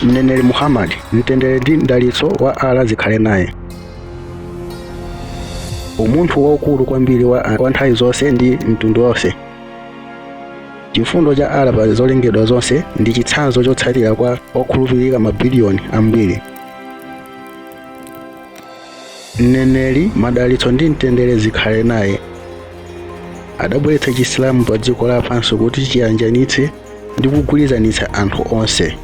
Mneneri Muhammad, mtendere ndi mdalitso wa Allah zikhale naye. Umunthu waukulu kwambiri wa nthawi zonse ndi mtundu wonse. Chifundo cha Allah pa zolengedwa zonse ndi chitsanzo chotsatira kwa okhulupirika mabiliyoni ambiri. mneneri madalitso ndi mtendere zikhale naye adabweretsa chisilamu pa dziko lapansi kuti chiyanjanitse ndi kugwirizanitsa anthu onse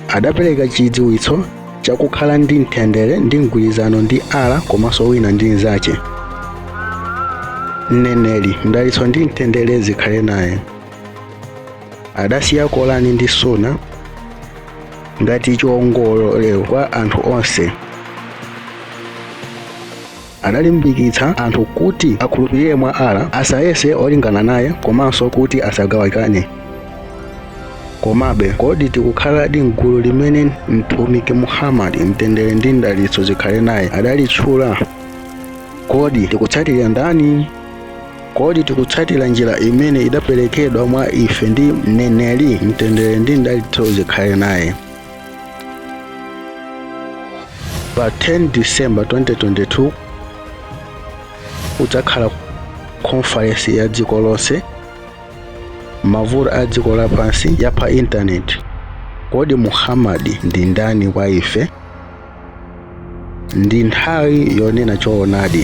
adapereka chidziwitso chakukhala ndi mtendere ndi mgwirizano ndi Allah komanso wina ndi mnzache mneneri mdalitso ndi mtendere zikhale naye adasiya Korani ndi Sunna ngati chiongolero kwa anthu onse adalimbikitsa anthu kuti akhulupirire mwa Allah asayese olingana naye komanso kuti asagawikane komabe kodi tikukhaladi mgulu limene mtumiki muhammadi mtendere ndi mdalitso zikhale naye adalitchula kodi tikutsatira ndani Kodi tikutsatira njira imene idaperekedwa mwa ife ndi mneneri mtendere ndi mdalitso zikhale naye? Pa 10 December 2022 kudzakhala konferensi ya dziko lonse mavuto a dziko lapansi ya pa intaneti. Kodi Muhammad ndi ndani kwa ife? ndi nthawi yonena choonadi